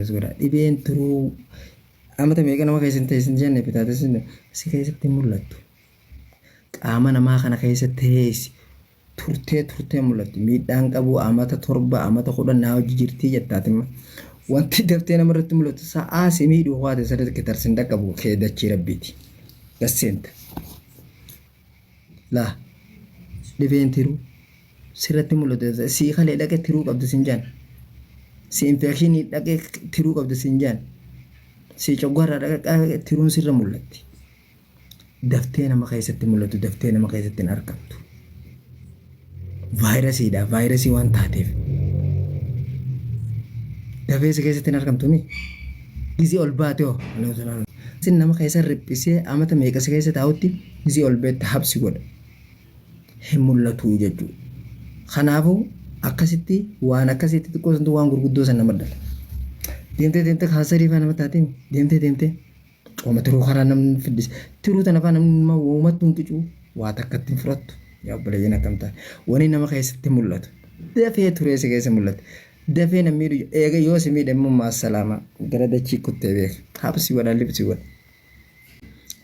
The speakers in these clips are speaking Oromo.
Akkas godhaa. Dhibeen tiruu amata meeqa nama keessa hin ta'e isin jenne hepatitis B si keessatti hin mul'attu. Qaama namaa kana keessa teessi turtee turtee mul'atti. Miidhaan qabu amata torba amata kudhan naa hojii jirtii jettaatimma. Wanti daftee nama irratti mul'atu sa'aa si miidhu ho'aate sirriitti kitarsi hin dhaqqabu kee dachii rabbiiti. Dasseenta. laa dhibeen tiruu sirratti mul'atu sii kalee dhaqee tiruu qabda siin jaan si infekshinii dhaqee tiruu qabda siin jaan si coggaarraa dhaqee tiruun sirra mul'atti daftee nama keessatti mul'atu daftee nama keessatti hin argamtu. Vaayirasiidha. Vaayirasii waan taateef. Dafeessa keessatti hin argamtu mi? Gizii ol baate hoo? Sin nama keessa riphisee amata meeqasa keessa taa'utti gizii ol beetta habsi godha. Hin mul'atu jechuudha. Kanaafuu akkasitti waan akkasitti xiqqoo santu waan gurguddoo san nama dhala. Deemtee deemtee kaansarii fa'aa nama taatiin deemtee deemtee. Cooma tiruu kanaa namni fiddise. Tiruu tana faa namni nama woomattuun qicuu waa takka ittiin fudhattu. Yaa obboleeyyan akkam taate. Wani nama keessatti mul'atu. Dafee turee si keessa mul'ata. Dafee na miidhu eega yoo si miidhe immoo maassalaama gara dachii kuttee beeka. Habsi wana libsi wana.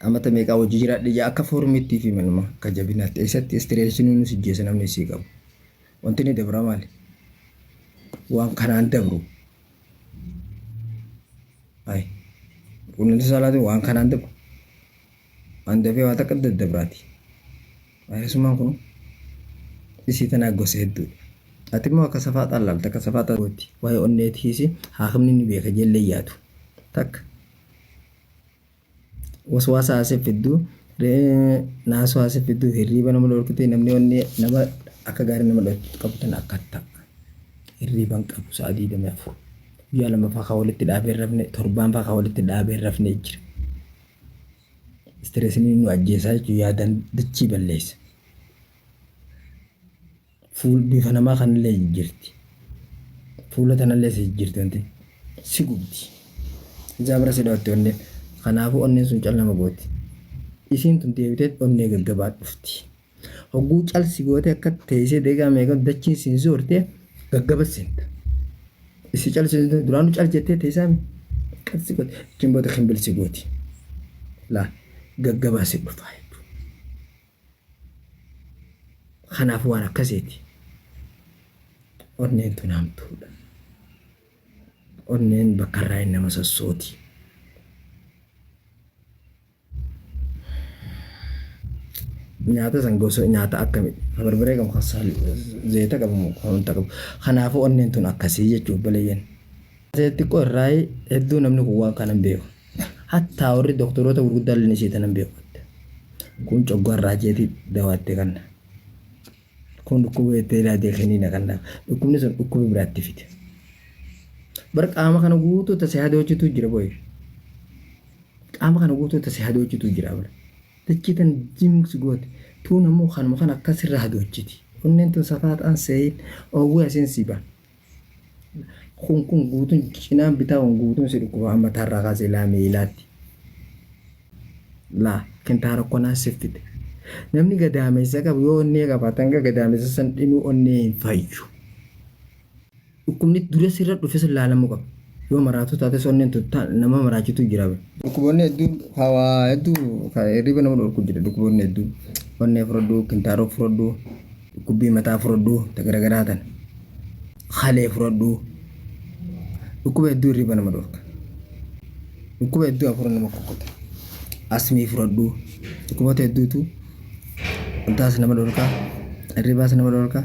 Amata meeqaa hojii jiraadhe ija akka foormiitti fi manuma akka jabinaatti eessatti istireeshinuu nu sijjeessa namni isii qabu. Wanti ni dabra maali? Waan kanaan dabru. Ay. Quunnamtii saalaatiin waan kanaan dabru. Waan dafee waa takka daddabraati. Vaayirasummaan kun isii tanaa gosa hedduudha. Ati immoo akka safaaxaan laalta akka safaaxaa gootti. Waa'ee onneetiis haakimni ni beeka ijellee yaadu. Takka. waswaasa haasee fiddu naasoo haasee fiddu hirriiba nama dhorkite namni wanni nama akka gaarii nama dhorkitu qabu tan akka ta'a hirriiba hin qabu sa'a digdamii afur guyyaa lama fa'aa walitti dhaabee hin rafne torbaan fa'aa walitti dhaabee hin rafne jira istireesni nu ajjeesaa jechuun yaadan dachii balleessa. Fuul bifa namaa kanallee jijjirti. Fuula tanallee si jijjirti wanti si gubdi. Ijaa bira si dhootti onnee. Kanaafuu onneen sun cal nama gooti. Isiin tun deebitee onnee gaggabaa dhufti. Hogguu cal si gootee akka teessee deegaa meeqatu dachiin siin zoortee gaggaba seenta. Isi cal si duraanuu cal jettee teessaami. Qal si gooti. Achiin booda kimbil si gooti. Laa gaggabaa si dhufaa jechuudha. Kanaaf waan akkasiiti. Onneen tun hamtuudha. Onneen bakka irraa hin nama sossooti. Nyaata san gosa nyaata akkami barbaree qabu kan saal- zayita qabu kan wanta qabu. Kanaafuu onneen tun akkasii jechuuf balayyeen. Asee xiqqoo irraayi hedduu namni kun waan kana hin beeku. Hattaa warri doktoroota gurguddaa illee isii tana hin beeku jette. Kun coggaarraa jeeti dawaa itti kanna. Kun dhukkuba jettee ilaajee kiniina kanna. Dhukkubni sun dhukkuba biraatti fide. Bar qaama kana guutuu tasee hadoochitu jira boy. Qaama kana guutuu tasee hadoochitu jira bar. Dachii tan jimsi goote. Tuun ammoo kanuma kana akkasirra hadoochiti. Onneen tun safaa ta'an seeyin oowwee asiin si ba'a. Kun kun guutuun cinaan bitaa kun guutuun si dhukkuba mataa irraa kaasee ilaa miilaatti. Laa kintaara konaa siif fide. Namni gadaameessa qabu yoo onnee qabaate hanga gadaameessa san dhinuu onnee hin fayyu. Dhukkubni dura sirra dhufe sun laalamuu qaba. Yoo maraatuu taates onneen tuttaa nama maraachitu jira. Dhukkuboonni hedduun hawaa hedduu hirriba nama dhorku jira dhukkuboonni hedduun onnee fudhadhu kintaaroo fudhadhu. Dhukkubbii mataa furadhuu ta garagaraa tan kalee furadhuu dhukkuba hedduu hirriba nama dhorka dhukkuba hedduu hafuura nama kukkuta asmii furadhuu dhukkuboota hedduutu wantaas nama dhorka hirribaas nama dhorka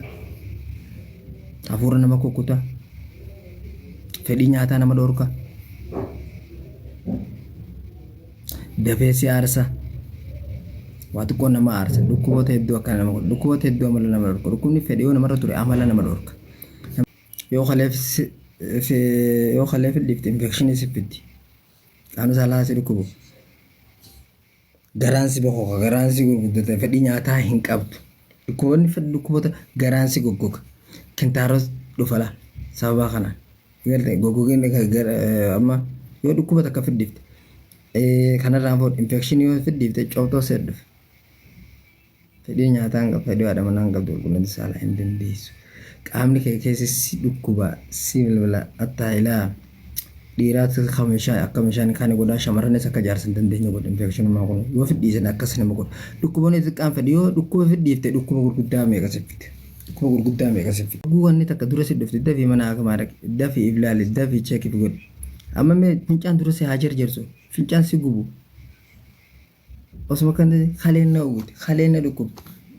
hafuura nama kukkuta fedhii nyaataa nama dhorka dafee si aarsa. Waa xiqqoo nama aarsa. Dhukkuboota hedduu akka nama godha. Dhukkuboota hedduu amala nama dhorka. Dhukkubni fedhe yoo namarra ture amala nama dhorka. Yoo kaleef si- fi- yoo kaleef dhiifte infekshinii si fitti. Qaamni saalaa si dhukkubu. Garaan si bokoka. Garaan si gurguddata. Fedhii nyaataa hin qabdu. Dhukkuboonni fedhi dhukkuboota garaan si goggoga. Kintaaros dhufala sababa kanaan. Garte gogogeen ka- gar- eh, amma yoo dhukkuba takka fiddifte eh, kanarraan food infection yoo fiddifte cootoo seet dhufe fedhii nyaataa hin qabdu fedhii haadha manaa hin qabdu qulqullina saalaa hin dandeessu qaamni kee keessa si dhukkuba si bilbila attaa ilaa dhiiraatti akka meeshaa akka meeshaan kaani godhaa shamarranis akka jaarsa hin dandeenye godha infekshinummaa kun yoo fidhiisan akkas nama godha dhukkuboonni xiqqaan fedhi yoo dhukkuba fidhiifte dhukkuba gurguddaa meeqa siffite. Kun gurguddaa meeqa si fide. Oguu wanni takka dura si dhufte dafi mana hakimaa dhaqi dafi if laali dafi check if godhi amma mee fincaan dura si haa jarjarsu fincaan si gubu osuma kan kaleen na uguti kaleen na dhukkub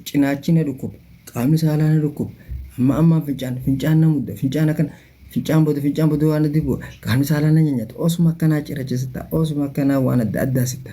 cinaachi na dhukkub qaamni saalaa na dhukkub amma ammaan fincaan fincaan na mudda fincaan akkan fincaan booda fincaan booda waan addi bu'a qaamni saalaa na nyanyata osuma akkanaa cirachisitta osuma akkanaa waan adda addaa sitta